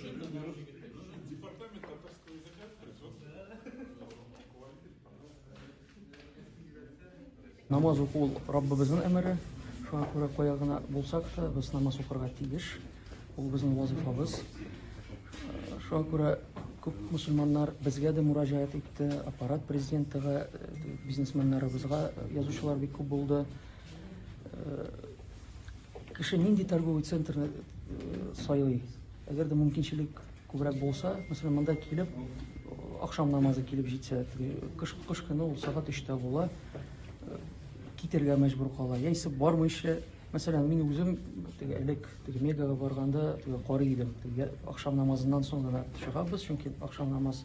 Департамент татарского языка произвел Намаз уку ул Раббыбызның әмере. Шуңа күрә кая гына булсак та, без намаз укырга тиеш. Ул безнең вазифабыз. Шуңа күрә күп мусульманнар безгә дә мураҗаат итте, аппарат президентыга, э, бизнесменнарыбызга язучылар бик күп булды. Кеше нинди торговый центр э, сайлый? Әгәр дә мөмкинчелек күбрәк булса, мәсәлән, монда килеп, ахшам намазы килеп җитсә, кыш, кыш көне ул сәгать өчтә була, э, китергә мәҗбүр кала. Яисә бармыйча, мәсәлән, мин үзем теге элек теге мегага барганда теге карый идем. Теге ахшам намазыннан соң гына чыгабыз, чөнки ахшам намаз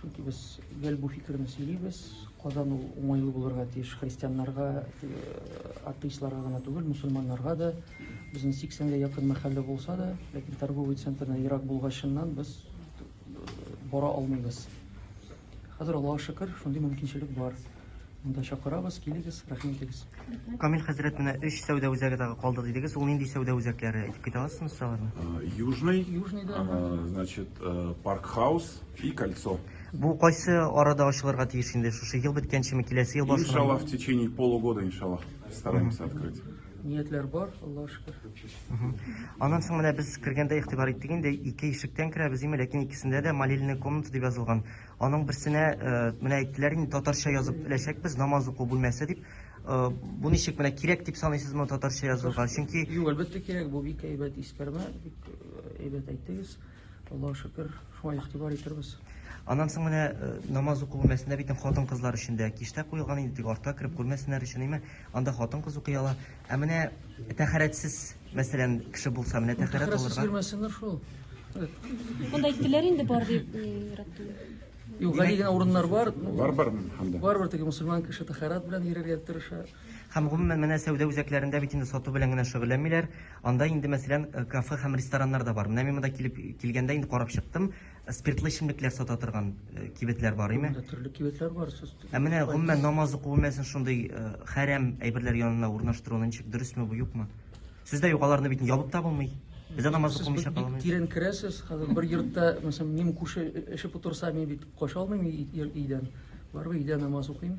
Чөнки без гел бу фикерне сөйлибез. Казан ул уңайлы булырга тиеш христианнарга, э, атеистларга гына түгел, мусульманнарга да. Безнең 80-гә якын мәхәллә булса да, ләкин торговый центрдан ерак булгачыннан без э, бара алмыйбыз. Хәзер Аллаһка шөкер, шундый мөмкинчелек бар. Монда чакырабыз, килегез, рәхим итегез. Камил хәзрәт менә өч сәүдә үзәге тагы калды дидегез. Ул нинди сәүдә үзәкләре? Әйтеп китә аласызмы сез аларны? Э, Южный, Южный, да. э, значит, э, Паркхаус и Кольцо. Бу кайсы арада ачылырга тиеш инде? Шушы ел беткәнчеме, киләсе ел башына? Иншалла, в течение полугода, иншалла, стараемся открыть. Ниятләр бар, Аллаһу шөкер. Аннан соң менә без кергәндә игътибар иттек инде, ике ишектән керәбез, име, ләкин икесендә дә молельная комната дип язылган. Аның берсенә э, менә әйттеләр инде татарча язып эләчәкбез намаз уку бүлмәсе дип. Э, бу ничек менә кирәк дип саныйсызмы татарча язылган? Чөнки Юк, әлбәттә кирәк, бу бик әйбәт искәрмә, бик э, әйбәт әйттегез. Аллаһу шөкер, шуңа игътибар итәрбез. Аннан соң менә э, намаз уку бүлмәсендә бит хатын-кызлар өчен дә киштә куелган инде, тик артта кереп күрмәсеннәр өчен име? Анда хатын-кыз укый ала. Ә менә тәхәрәтсез, мәсәлән, кеше булса, менә тәхәрәт Тәхәрәтсез алырга. йөрмәсеннәр шул. Монда әйттеләр инде бар дип ни рәт түгел. Юк, гади генә урыннар бар. Ну, Бар бар һәм дә. Барыбер теге мөселман кеше тәхәрәт белән йөрергә тырыша. Һәм гомумән менә сәүдә үзәкләрендә бит инде сату белән генә шөгыльләнмиләр. Анда инде, мәсәлән, э, кафе һәм рестораннар да бар. Менә мин монда килеп килгәндә инде карап чыктым. Ә спиртлы эчемлекләр сата торган э, кибетләр бар име? Монда төрле кибетләр бар. Сез Ә менә гомумән намаз уку бүлмәсен шундый э, хәрәм әйберләр янына урнаштыруны ничек дөресме бу юкмы? Сездә юк аларны бит ябып та булмый. Бездә намаз Сез укымыйча бик кала алмый. тирән керәсез. Хәзер бер йортта, мәсәлән, минем күрше эчеп утырса, мин бит кача алмыйм өй- өй- өйдән. Барыбер өйдә намаз укыйм.